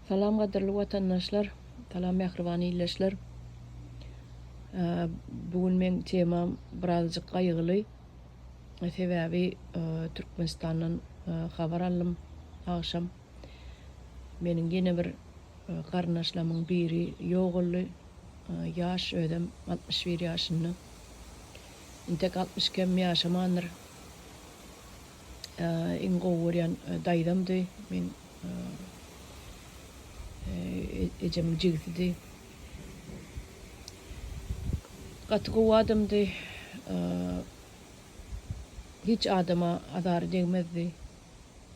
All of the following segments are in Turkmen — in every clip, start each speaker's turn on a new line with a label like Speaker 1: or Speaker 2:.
Speaker 1: Salam gadyrly watandaşlar salam mähriban illeşler bu gün men temam birazjyk gaýgyly sebäbi Türkmenistandan habar aldym agşam meniň ýene bir garyndaşlamyň biri ýogaldy ýaş özem altmyş bir ýaşynda intek altmyş kem ýaşamandyr. iň gowy görýän daýzamdy. Men ejemiň jigisidi. Gaty gowy adamdy. Hiç adama azary degmezdi.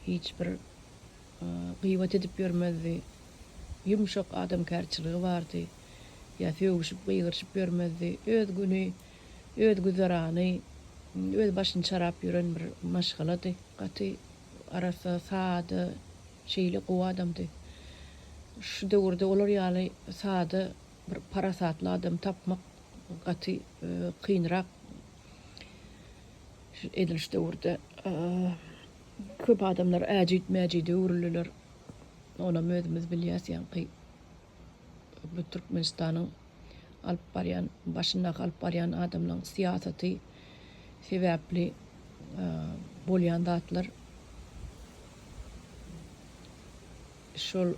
Speaker 1: Hiç bir gyýbat edip ýörmezdi. Ýumşak adamkärçiligi bardy. Ýa sögüşip, gygyryşyp ýörmezdi. Öz güni öz güzerany, öz başyny çarap ýören bir maşgalady. Gaty arassa, sada, şeýle gowy adamdy. Şu döwürde olar ýaly sada bir parasatly adamy tapmak gaty kynrak edil şu döwürde. Köp adamlar äjit-mäjide öwrüldiler. Onam özümiz bilýäs ýaňky. Bu Türkmenistanyň alyp barýan, başyndaky alyp barýan adamlaryň syýasaty sebäpli bolýan zatlar. Şol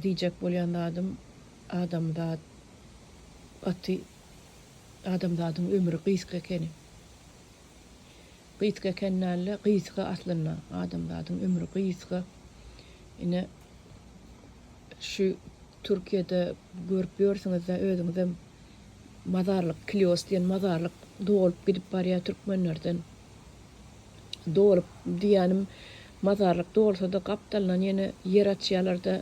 Speaker 1: diýjek bolýan zadym, adamzat gaty, adamzadyň ömri gysga ekeni. Gysga eken dälde gysga aslynda adamzadyň ömri gysga ine şu türkiýede görüp ýörsiňizda özüňizem mazarlyk klios diýen mazarlyk dolup gidip barýa türkmenlerden dolup diýýänim mazarlyk dolsada gapdalyndan ýene ýer açýalarda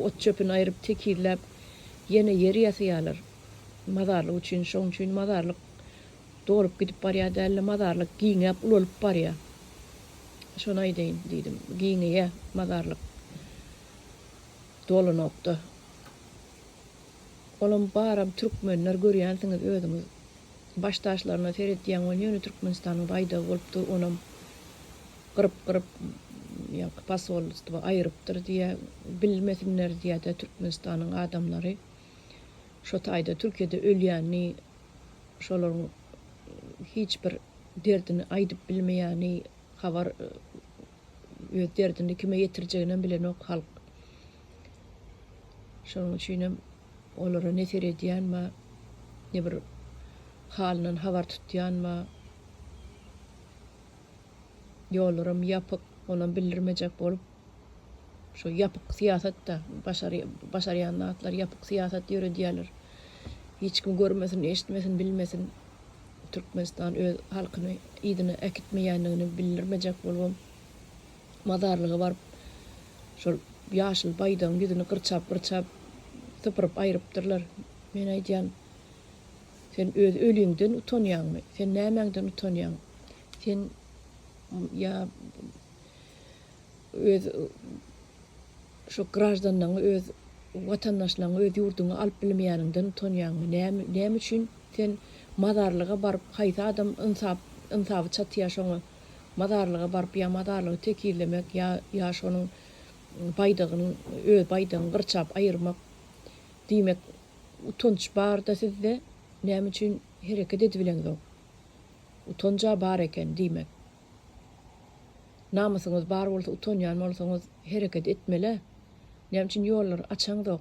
Speaker 1: ot çöpüni aýryp tekizläp ýene ýer ýasaýalar mazarlyk üçin şoň üçin mazarlyk Dolup gidip barýar dälde, mazarlyk giňäp, ulalyp barýar. Şony aýdaýyn diýdim. Giňeýär mazarlyk. Dolanokda. Olam baram türkmenler, görýänsiňiz özüňiz. Baş taşlaryna seretýäň, ol ýöne Türkmenistanyň baýdagy bolupdyr, onam gyryp-gyryp, ýaňky posolstwo aýrypdyr diýýär. Bilmesinler diýýär-dä Türkmenistanyň adamlary. Şo taýda Türkiýede ölýänini. şolaryň hiç bir derdini aýdyp bilmeýäni, habar öz derdini kime ýetirjeginem bilenok halk. Şonuň üçinem olara ne seredýänma, ne bir halyndan habar tutýanma, ýollaram ýapyk, onam bildirmejek bolup. Şu ýapyk syýasatda başary başarýan zatlar ýapyk syýasat ýöredýärler. Hiç kim görmesin, eşitmesin, bilmesin. Türkmenistan öz halkyny yzyna äkitmeýändigini bildirmejek bolubam mazarlyga baryp şol ýaşyl baýdagyň ýüzüni gyrçap-gyrçap sypyryp aýrypdyrlar. Men aýdýan, sen öz öliňden utanýaňmy? Sen nämäňden utanýaň? Sen ýa öz şu graždanlaňy öz watandaşlaňy öz ýurduňa alyp bilmeýäniňden utanýaňmy näme näme üçin sen mazarlyga baryp haýsy adam ynsap ynsaby çatýa şoňa mazarlyga baryp ýa mazarlygy tekizlemek ýa ýa şonuň baýdagyny öz baýdagyňy gyrçap aýyrmak diýmek utanç barda sizde näme üçin hereket edibileňzok utanja bar eken diýmek. Namysyňyz bar bolsa utanýan bolsaňyz hereket etmelä. Näme üçin ýollary açaňzok.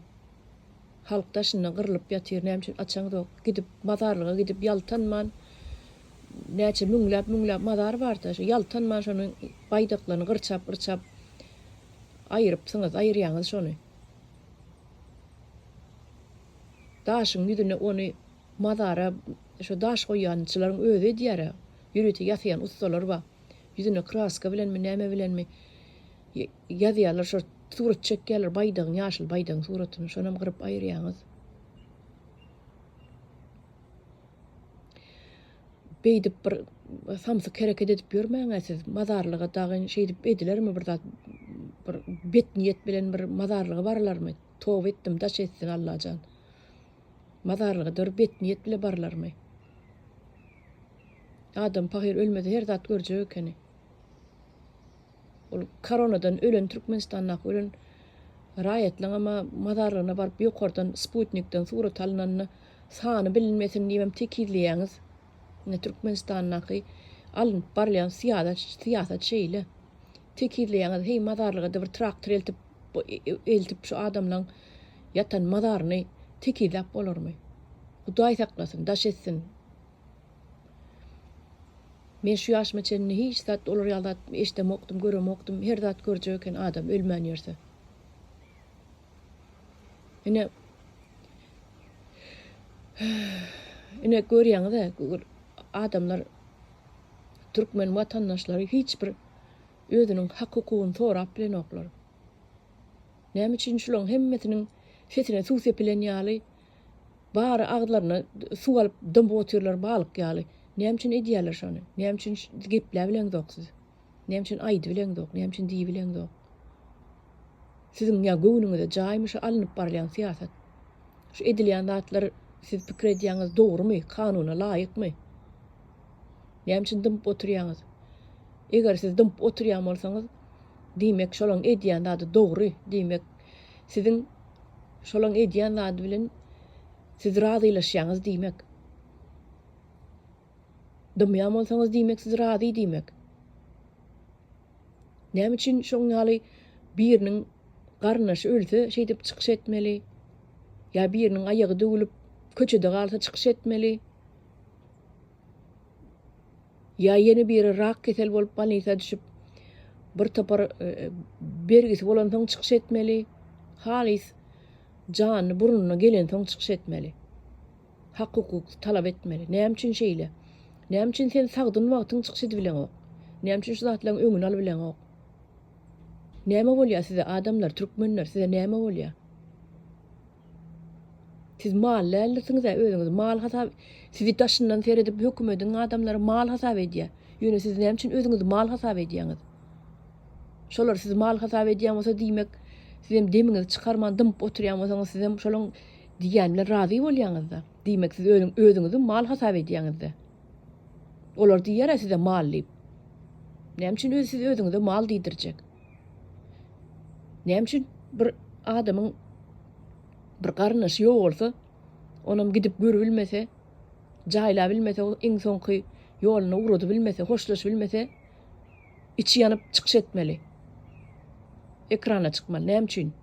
Speaker 1: Halk daşynda gyrlyp ýatyr näme üçin açaňzok. Gidip mazarlyga gidip ýaltanman näçe müňläp müňläp mazar barda şo ýaltanman şonuň baýdaklaryny gyrçap gyrçap aýyrypsyňyz aýyrýaňyz şony. Daşyň ýüzüne ony mazara şo daş goýýançylaryň özi edýärä. Ýörite ýasaýan ussalar bar. Ýüzüne kraska bilenmi, näme bilenmi ýazýarlar, şo surat çekýärler, baýdagyň, ýaşyl baýdagyň suratyny, şonam gyryp aýyrýaňyz. Beýdip bir samsyk hereket edip ýörmäň-ä siz, mazarlyga dagyn şeýdip edilermi bir zat, bir bet niýet bilen bir mazarlyga barylarmy? Toba etdim, daş etsin Allajan. Mazarlyga dor bet niýet bile barlarmy? Adam pahyr ölmese her zat görjek ekeni. Ol koronadan ölen Türkmenistandaky ölen raýatlaňam mazarlygyna baryp ýokardan sputnikden surat alynanda sany bilinmesin diýibem tekizleýäňiz. Ine Türkmenistandaky alnyp barylýan syýasat şeýle. Tekizleýäňiz heý mazarlygada bir traktor eltip eltip şu adamlaň ýatan mazaryny tekizläp bolarmy. Hudaý saklasyn daş etsin. Men şu ýaşyma çenli hiç zat olar ýaly zat eşdemokdym göremokdym her zat görjek eken adam ölmän ýörse. Ine Ine görýäňizä adamlar türkmen watandaşlary hiç bir özüniň hak-hukugyny sorap bilenoklar. Näme üçin şulaň hemmesiniň sesine suw sepilen ýaly, bary agzlaryna suw alyp dymyp otyrlar balyk ýaly? Näme üçin edýärler şony? Näme üçin gepläbileňzok siz? Näme üçin aýdybileňzok? Näme üçin diýibileňzok? Siziň ýa göwnüňize jaýmy şu alnyp barylýan syýasat? Şu edilýän zatlar siz pikir edýäňiz dogrumy, kanuna laýykmy? Näme üçin dymyp oturýaňyz? Eger siz dymyp oturýan bolsaňyz, diýmek şolaň edýän zady dogry, diýmek siziň şolaň edýän zady bilen siz razylaşýaňyz diýmek. Dymýan bolsaňyz diýmek siz razy diýmek. Näme üçin şoň ýaly biriniň garyndaşy ölse şeýdip çykyş etmeli? Ýa biriniň aýagy döwülip köçede galsa çykyş etmeli? Ýa ýene biri rak keseli bolup bolnisa düşüp, bir topar bergisi bolansoň çykyş etmeli, halys jany burnuna gelensoň çykyş etmeli. Hak-hukuk talap etmeli. Näme üçin şeýle? Näme üçin sen sagdyn wagtyň çykyş edibileňok? Näme üçin şu zatlaryň öňüni alybileňok? Näme bolýar size adamlar, türkmenler, size näme bolýar? Siz mal dällisiňizä özüňizi mal hasap sizi daşyndan seredip hökümediň adamlary mal hasap edýä. Ýöne siz näme üçin özüňizi mal hasap edýäňiz? Şolar sizi mal hasap edýän bolsa diýmek sizem demiňizi çykarman dymyp oturýan bolsaňyz sizem şolaň diýýän bilen razy bolýaňyzda. Diýmek siz özüňizi mal hasap edýäňizde. Olar diýýär-ä size mal diýip. Näme üçin özi siz özüňize mal diýdirjek? Näme üçin bir adamyň bir garyndaşy ýok bolsa, onam gidip görüp bilmese, jaýlap bilmese, iň soňky ýoluna ugradyp bilmese, hoşlaşyp bilmese, içi ýanyp çykyş etmeli? Ekrana çykmaly? Näme üçin?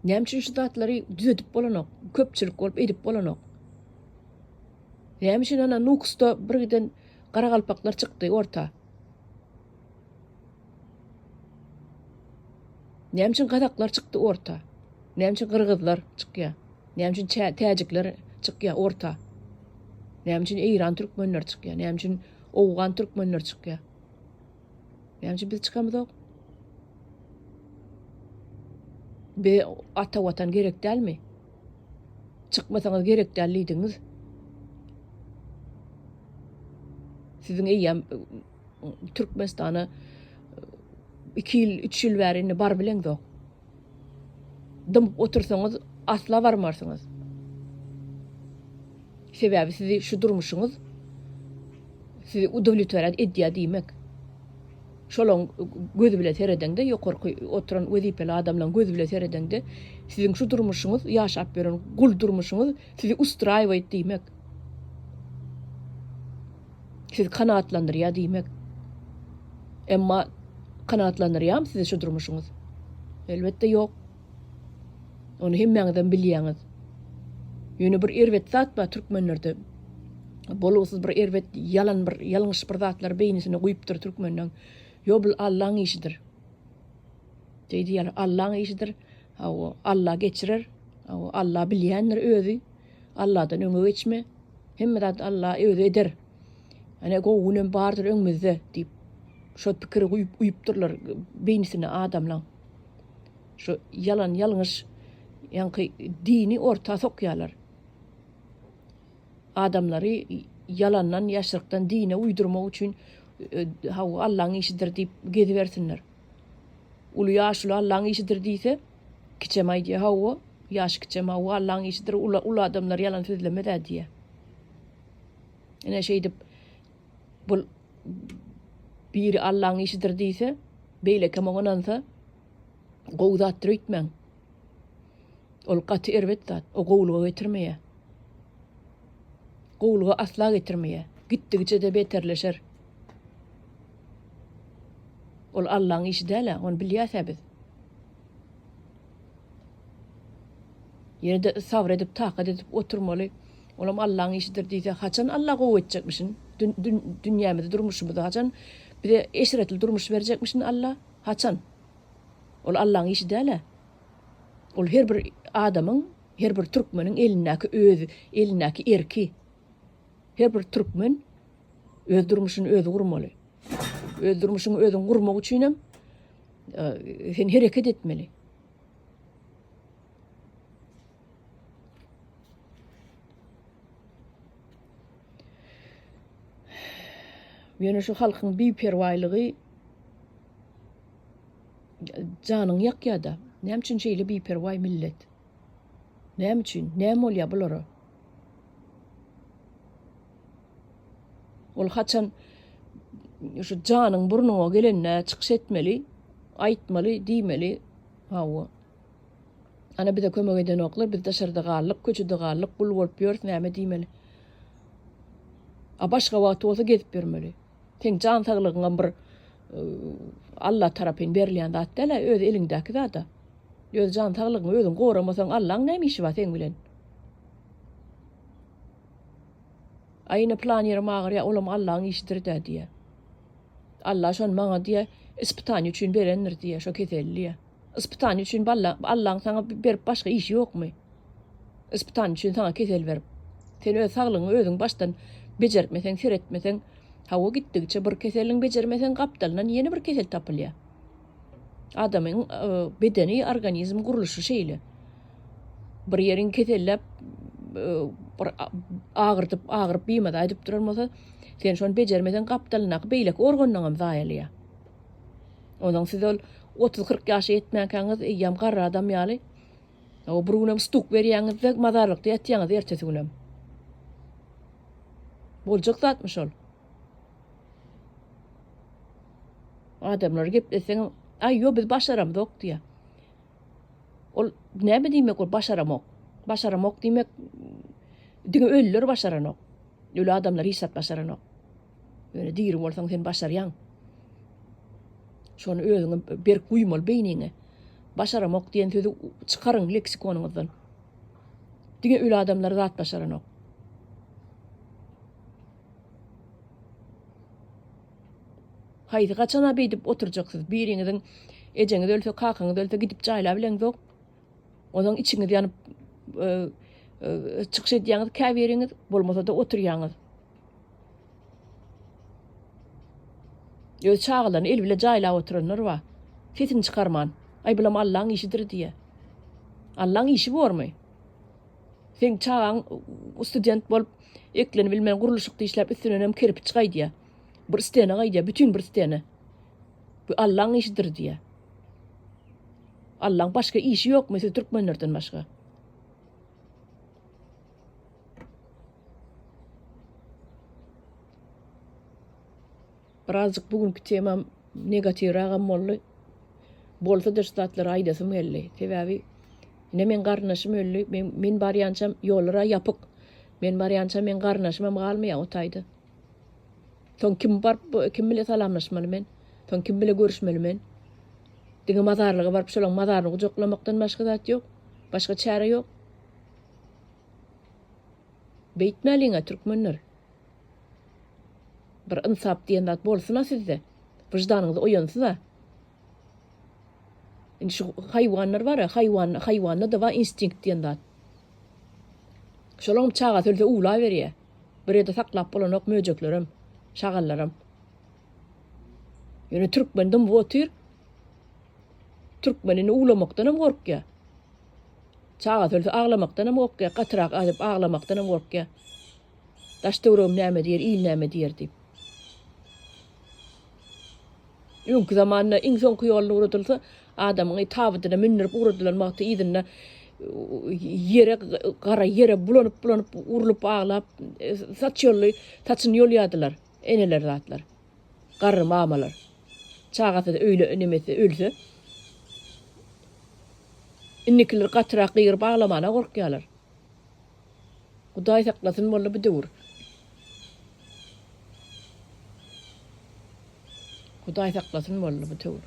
Speaker 1: Näme üçin şu zatlary düzedip bolanok? Köpçülik bolup edip bolanok. Näme üçin ana Nukusda birden garagalpaklar çykdy orta? Näme üçin gazaklar çykdy orta? Näme üçin gyrgyzlar çykýar? Näme üçin täjikler çykýar orta? Näme üçin Eýran türkmenleri çykýar? Näme üçin Owgan türkmenleri çykýar? Ýaňçy biz çykamyzok. Be ata watan gerek dälmi? Çykmasaňyz gerek däl diýdiňiz. Siziň eýýäm Türkmenistana 2 ýyl, 3 ýyl bäri indi bar bileňzok. dymyp otursaňyz asla barmarsyňyz. Sebäbi sizi şu durmuşyňyz sizi udowlitworýat edýär diýmek. Şolaň gözi bilen seredeňde ýokarky oturan wezipeli adamlaň gözi bilen seredeňde siziň şu durmuşyňyz ýaşap ýören gul durmuşyňyz sizi ustraýowyt diýmek. sizi kanagatlandyrýar diýmek. Emma kanagatlandyrýarmy sizi şu durmuşyňyz? Elbetde ýok. Ony hemmäňizem bilýäňiz. Ýöne bir erbet zat bar türkmenlerde. Bolgusyz bir erbet ýalan bir ýalňyş bir zatlar beýnisine guýupdyr türkmenleň. Ýo bul Allaň işidir. Diýdi ýaly Allaň işidir. Hawa, Alla geçirer. Hawa, Alla bilýändir özi. Alladan öňe geçme. Hemme zat Alla özi eder. Ene gowy günem bardyr öňümizde diýip, şo pikiri guýup uýupdyrlar beýnisine adamlaň. Şo ýalan ýalňyş ýaňky dini orta sokýarlar. Adamlary ýalandan ýaşrykdan dine uýdurmak üçin hawa Allaň işidir diýip gezibersinler. Uly ýaşuly Allaň işidir diýse, kiçem aýdýar, Hawa, ýaş kiçem, hawa, Allaň işidir, uly, uly adamlar ýalan sözlemez-ä diýýär. Ine, şeýdip, bu biri Allaň işidir diýse, beýlekem oňa ynansa, gowy zatdyr öýtmäň. Ol gaty erbet zat, o gowulyga getirmeýär. Gowulyga asla getirmeýär. Gitdigiçe-de beterleşer. Ol Allaň işi däl-ä, ony bilýäs-ä biz. Ýene-de sabr edip, takat edip oturmaly. Olam Allaň işidir diýse, haçan Alla gowy etjekmişin? Dünýämizi, durmuşymyzy haçan bize eşretli durmuş berjekmişin Alla? Haçan? Ol Allaň işi däl-ä. Ol her bir adamyň, her bir türkmeniň elindäki özi, elindäki erki. Her bir türkmen Öz durmuşyny özi gurmaly. Öz durmuşyňy özüň gurmak üçin hem sen hereket etmeli. Ýöne şu halkyň biperwaýlygy janyň ýakýada. Näme üçin şeýle biperwaý millet? Näme üçin? Näme bolýar bulara? Ol haçan şu janyň burnuňa gelende çykyş etmeli, aýtmaly, diýmeli. Hawa. Ana bize kömek edenoklar, biz daşarda galdyk, köçede galdyk, gul bolup ýörüs, näme diýmeli? A başga wagty bolsa gezip ýörmeli. Seň jan saglygyňam bir Alla tarapyn berilýän zat däl-ä, öz eliňdäki zat-a. Öz jan saglygyňy özüň goramasaň, Allaň näme işi bar seň bilen? Aý ine plan ýerim agyrýar, olam Allaň işidir-dä diýýär. Alla şony maňa diýýär, ispitaniýe üçin berendir diýýär, şo keselli diýýär. Yspytany üçin balla Allaň saňa berip başga işi ýokmy? Yspytany üçin saňa kesel berip. Sen öz saglygyňy özüň başdan bejertmeseň, seretmeseň, hawa gitdigiçe bir keseliň bejermeseň gapdalyndan ýene bir kesel tapylýa. Adamyň bedeni, organizm gurluşy şeýle. Bir ýeriň keselläp bir agyrdyp, agyryp bimada aýdyp duran bolsa, sen şony bejermeseň gapdalyndaky beýleki organlaňam zaýalýa. Onsoň siz ol otuz-kyrk ýaşa ýetmänkäňiz eýýäm garry adam ýaly, o bir günem stuk berýäňiz-de, mazarlykda ýatýaňyz ertesi günem. Boljak zatmy şol? Adamlar gepleseň, aý, ýo biz başaramzok diýýär. Ol näme diýmek ol başaramok? Başaramok diýmek, diňe ölüler başaranok. Öli adamlar hiç zat başaranok. Ýöne diri bolsaň sen başarýaň. Şony özüňe berk guýmaly beýniňe. Başaramok diýen sözi çykaryň leksikonyňyzdan. Diňe öli adamlar zat başaranok. Haýsy gaçana beýdip oturjaksyz? Biriňiziň ejeňiz ölse, kakaňyz ölse gidip jaýlap bileňzok. Onuň içiňiz ýanyp e, e, çykyş edýäňiz käbiriňiz, bolmasa-da oturýaňyz. Öz çagalaryny el bile jaýlap oturanlar bar. Sesini çykarman. Aý bulam Allaň işidir diýýä. Allaň işi bormy? Seň çagaň student bolup, eklenip bilmän gurluşykda işläp üstünenem kerpiç gaýdýa. Bir stena gaýdýa, bütin bir stena. Bu Allaň işidir diýýä. Allaň başga işi ýokmy siz türkmenlerden başga? Birazjyk bu günki temam negatiwragam boldy. Bolsa-da şu zatlary aýdasym geldi. Sebäbi ine meň garyndaşym öldi. Men men barýançam ýollar-a ýapyk. Men barýança meň garyndaşymam galmaýar o taýda. Soň kim baryp bu kim bilen salamlaşmaly men? Soň kim bilen görüşmeli men? Diňe mazarlyga baryp şolaň mazaryny gujaklamakdan başga zat ýok. Başga çäre ýok. Beýtmäliňä türkmenler. Bir ynsap diýen zat bolsuna sizde. Wyždanyňyz oýansyna. Indi şu haýwanlar bar-a, haýwan, haýwanda-da bar instinkt diýen zat. Şolaňam çagasy ölse uwlaberýä. Bir ýerde saklap bolanok möjeklerem, şagallaram. Ýöne türkmen dymyp otyr. Türkmen indi uwlamakdanam gorkýa. Çagasy ölse aglamakdanam gorkýar, gatyrak aýdyp aglamakdanam gorkýar. Daş-töweregim näme diýer, il näme diýer diýip. Öňki zamanda iň soňky ýoluna ugradylsa, adamyňy tabydyna mündürip ugradylan wagty yzynda ýere, gara ýere bulanyp-bulanyp, urlup aglap, saç ýolly, saçyny ýolýardylar eneler zatlar. Garry mamalar çagasyz öýle nemesi ölse indikiler gatyrak gygyryp aglamana gorkýalar. Hudaý saklasyn boldy bu döwür. Hudaý saklasyn boldy bu döwür.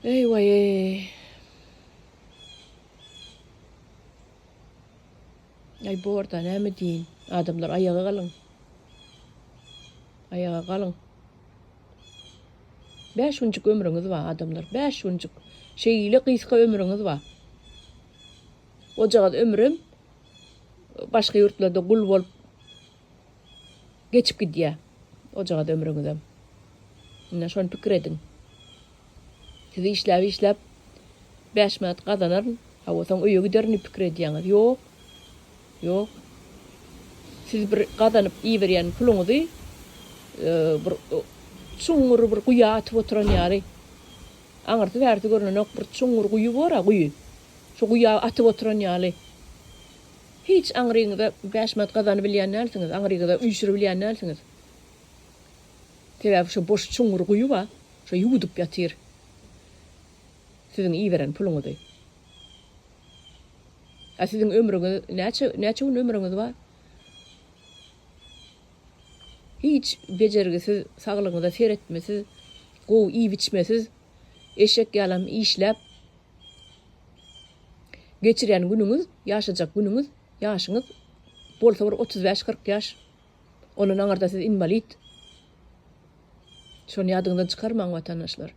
Speaker 1: Ey vay ey. Aý borda näme diýin. Adamlar aýaga galyň. Aýaga galyň. Bäş günjük ömrüňiz bar adamlar. Bäş günjük. Şeýle gysga ömrüňiz bar. Ojagaz ömrüm başga ýurtlarda gul bolup Geçip gidýär ojagaz ömrüňizem. Ine şony pikir ediň. Siz işläp işläp bäş manat gazanaryn, hawa soň öýe giderin diýip pikir edýäňiz. Ýok. Ýok. Siz bir gazanyp iýiberýän puluňyzy bir çuňňur bir guýa atyp oturan ýaly. Aňyrsy bärsi görnenok bir çuňňur guýy bor-a guýy. Şu guýa atyp oturan ýaly. Hiç aňryňyza bäş manat gazanybilýän dälsiňiz, aňryňyza üýşüribilýän dälsiňiz. Sebäbi şo boş çuňňur guýuba şo ýuwudyp ýatyr siziň iberen puluňyzy. A siziň ömrüňiz näçe, näçe gün ömrüňiz bar? Hiç bejergisiz, saglygyňyza seretmesiz, gowy iýip-içmesiz, eşek ýalam işläp, Geçirýän günüňiz, ýaşajak günüňiz, ýaşyňyz bolsa bir otuz bäş, kyrk ýaş. Ondan aňyrda siz inwalid. Şony ýadyňyzdan çykarmaň watandaşlar.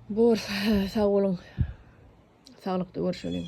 Speaker 1: Bor, sag boluň. Saglykda görşeliň.